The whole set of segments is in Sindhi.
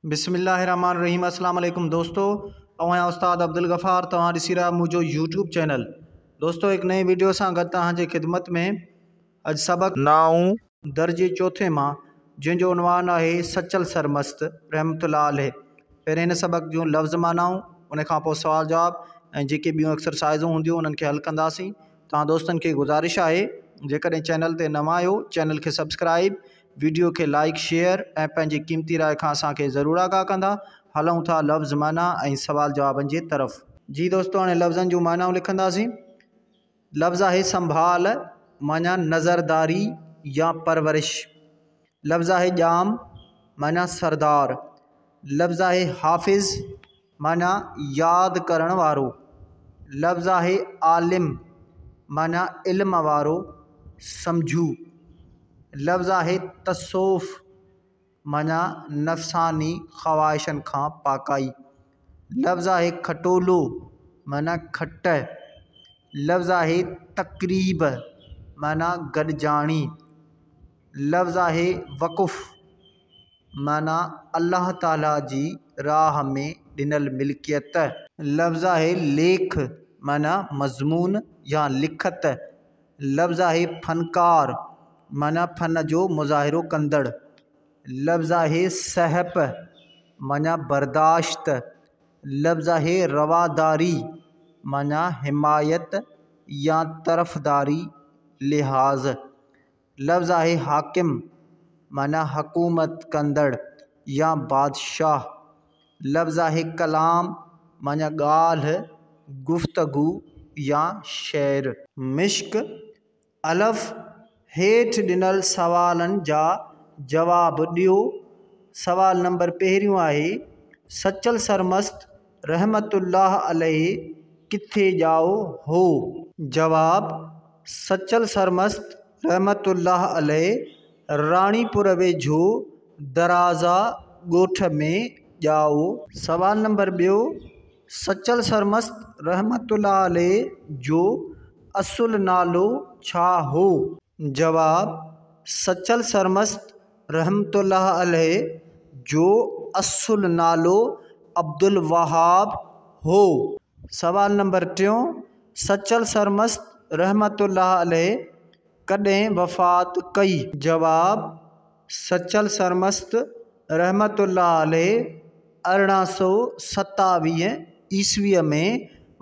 بسم الله الرحمٰن الرحيم اسلام عليڪم دوستو آئون آهيان استاد عبدالغفار توهان ڏسي رهيا منهنجو يوٽيوب چينل دوستو هڪ نئين ويڊيو سان گڏ توهان جي خدمت ۾ اڄ سبق نائون درجي چوٿين مان جنهن جو عنوان آهي سچل سرمست رحمت الله عليه پهرين هن سبق جون لفظ معنائون ان کان پوء سوال جواب ۽ جيڪي ٻيون اڪسرسائزون هونديون انهن کي حل ڪنداسين توهان دوستن کي گذارش آهي جيڪڏهن چينل تي نوان آهيو چينل کي سبسڪرائب ويڊيو کي لائيڪ شيئر ۽ پنهنجي قيمتي راء کان اسان کي ضرور آگاهه ڪندا هلئون ٿا لفظ معنيٰ ۽ سوال جوابن جي طرف. جي دوستو هاڻي لفظن جون معنائون لکنداسين لفظ آهي سنڀال معنيٰ نظرداري يا پرورش لفظ آهي ڄام معنيٰ سردار لفظ آهي حافظ. معنيٰ، ياد ڪرڻ وارو. لفظ آهي عالم، معنيٰ علم وارو، سمجهو. لفظ آهي تصوف، معنيٰ نفساني خواهشن کان پاڪائي. لفظ آهي کٽولو، معنيٰ کٽ. لفظ آهي تقريب، معنيٰ گڏجاڻي. لفظ آهي وقف. معنيٰ، الله تعاليٰ جي راهه ۾ ڏنل ملڪيت. لفظ آهي ليک، معنيٰ مضمون يا لکت. لفظ آهي فنڪار، معنيٰ فن جو مظاهرو ڪندڙ. لفظ آهي سهپ، معنيٰ برداشت. لفظ آهي رواداري، معنيٰ حمايت يا طرفداري لحاظ. لفظ آهي حاڪم معنيٰ حڪومت ڪندڙ يا بادشاهه لفظ آهي ڪلام معنيٰ ڳالهه گفتگو يا شعر. مشق، الف، هيٺ ڏنل سوالن جا جواب ڏيو سوال نمبر پهريون آهي، سچل سرمست رحمة الله عليه ڪٿي ڄائو هو؟ جواب، سچل سرمست رحمة الله عليه راڻيپور ويجهو درازا ڳوٺ ۾ ڄائو. سوال نمبر ٻيو، سچل سرمست رحمة الله عليه جو اصل نالو ڇا هو؟ جواب، سچل سرمست رحمة الله عليه جو اصل نالو عبدالوهاب هو. سوال نمبر ٽيون، سچل سرمست رحمة الله عليه ڪڏهن وفات ڪئي؟ جواب، سچل سرمست رحمة الله عليه ارڙهن سؤ ستاويهه عيسويء ۾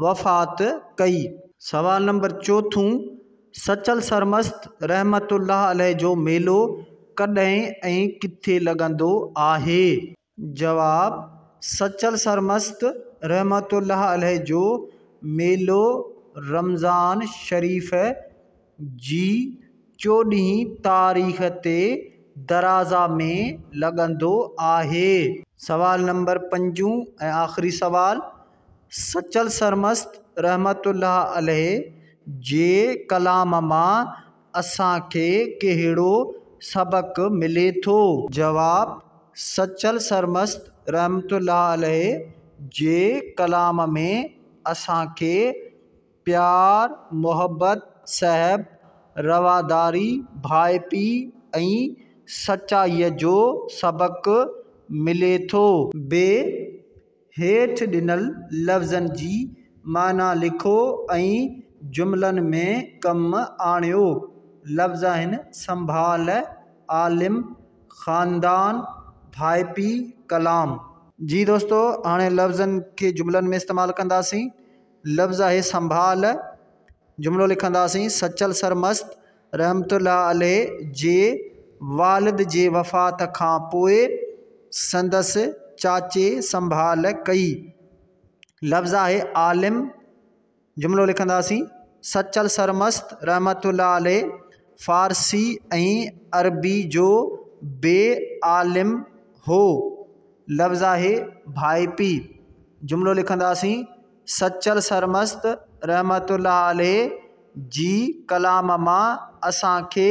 وفات ڪئي. سوال نمبر چوٿون، سچل سرمست رحمة الله عليه جو ميلو ڪڏهن ۽ ڪٿي لڳندو آهي؟ جواب، سچل سرمست رحمة الله عليه جو ميلو رمضان شريف جي چوڏهين تاريخ تي درازا ۾ لڳندو آهي. سوال نمبر پنجون ۽ آخري سوال، سچل سرمست رحمة الله عليه جي ڪلام مان اسان کي ڪهڙو سبق ملي ٿو؟ جواب، سچل سرمست رحمة الله عليه جي ڪلام ۾ اسان کي پيار، محبت، صحب، رواداري، ڀائپي ۽ سچائيء جو سبق ملي ٿو. بي هيٺ ڏنل لفظن جي معنيٰ لکو ۽ جملن ۾ ڪم آڻيو. لفظاهن، سنڀال، عالم، خاندان، ڀائپي، ڪلام. جي دوستو هاڻي لفظن کي جملن ۾ استعمال ڪنداسين. لفظ آهي سنڀال جملو لکنداسين، سچل سرمست رحمة الله عليه جي والد جي وفات کان پوء سندس چاچي سنڀال ڪئي. لفظ آهي عالم جملو لکنداسين، سچل سرمست رحمة الله عليه فارسي ۽ عربي جو بي عالم هو. لفظ آهي ڀائپي جملو لکنداسين، سچل سرمست رحمت الله عليه جي ڪلام مان اسان کي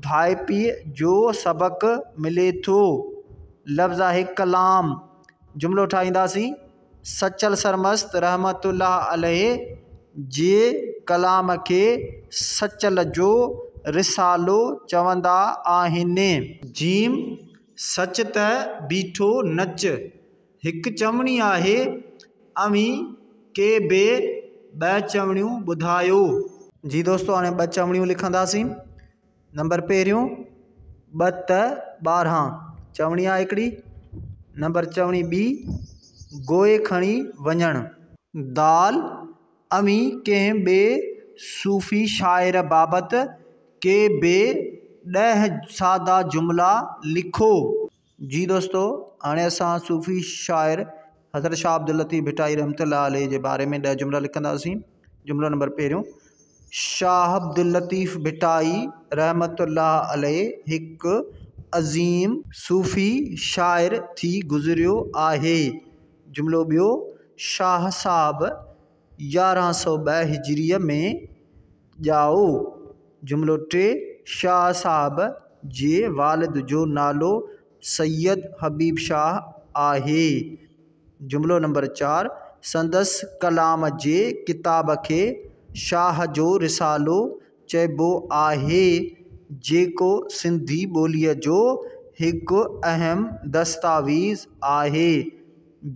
ڀائپي جو سبق ملي ٿو لفظ آهي ڪلام جملو ٺاهينداسين سچل سرمست رحمت الله عليه جي ڪلام کي سچل جو رسالو چوندا آهن جيم سچ ته بيٺو نچ هڪ چوڻي آهي اوهين ڪي بي ٻه چوڻيون ٻڌايو. جي دوستو هاڻي ٻه چوڻيون لکنداسين نمبر پهريون ٻه ت ٻارهان چوڻي آهي هڪڙي نمبر چوڻي ٻي گوئي کڻي وڃڻ. دال اوهين ڪنهن ٻي صوفي شاعر بابت ڪي بي ڏهه سادا جملا لکو. جي دوستو هاڻي اسان صوفي شاعر حضرت شاهه عبداللطيف ڀٽائي رحمة الله عليه جي باري ۾ ڏهه جملا لکنداسين جملو نمبر پهريون شاهه عبداللطيف ڀٽائي رحمة الله عليه هڪ عظيم صوفي شاعر ٿي گذريو آهي جملو ٻيو شاهه صاحب يارهن سؤ ٻه هجريء ۾ ڄائو. جملو ٽي، شاهه صاحب جي والد جو نالو سيد حبيب شاهه آهي. جملو نمبر چار، سندس ڪلام جي ڪتاب کي شاهه جو رسالو چئبو آهي، جيڪو سنڌي ٻوليء جو هڪ اهم دستاويز آهي.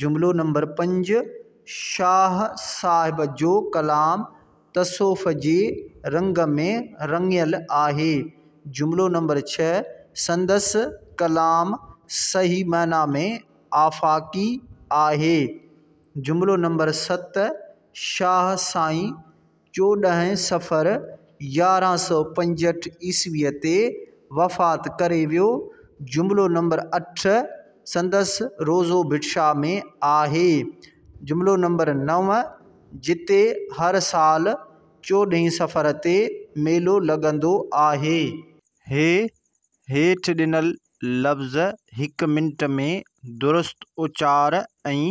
جملو نمبر پنج، شاهه صاحب جو ڪلام تصوف جي رنگ ۾ رڱيل آهي. جملو نمبر ڇهه، سندس ڪلام صحيح معنيٰ ۾ آفاقي آهي. جملو نمبر ست، شاهه سائين چوڏهين صفر يارهن سؤ پنجهٺ عيسويء تي وفات ڪري ويو. جملو نمبر اٺ سندس روضو ڀٽشاء ۾ آهي. جملو نمبر نو جتي هر سال چوڏهين صفر تي ميلو لڳندو آهي. هي هيٺ ڏنل لفظ هڪ منٽ ۾ درست اچار ۽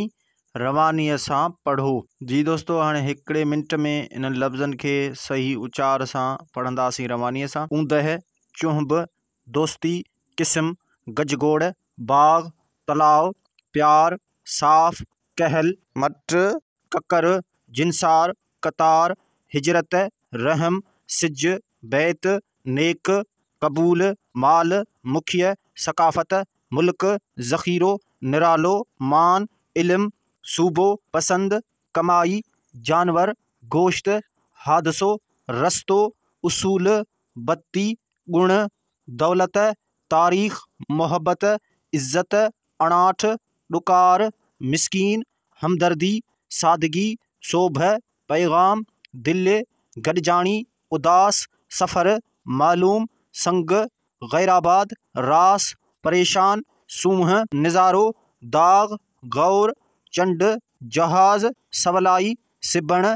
روانيء سان پڙهو. جي دوستو هاڻي هڪڙي منٽ ۾ انهن لفظن کي صحيح اچار سان پڙهنداسين روانيء سان، اوندهه، چنهب، دوستي، قسم، گجگوڙ، باغ، تلاء، پيار، صاف، ڪهل، مٽ، ڪڪر، جنسار، قطار، هجرت، رحم، سج، بيت، نيڪ، قبول، مال، مکيه، ثقافت، ملڪ، ذخيرو، نرالو، مان، علم، صوبو، پسند، ڪمائي، جانور، گوشت، حادثو، رستو، اصول، بتي، گڻ، دولت، تاريخ، محبت، عزت، اڻاٺ، ڏڪار، مسڪين، همدردي، سادگي، سوڀ، پيغام، دل، گڏجاڻي، اداس سفر، معلوم سنگ، غيرآباد، راس، پريشان، سونهن، نظارو، داغ، غور، چنڊ، جهاز، سولائي، سبڻ،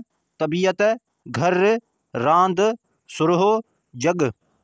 طبيعت، گهر، راند، سرهو، جڳ.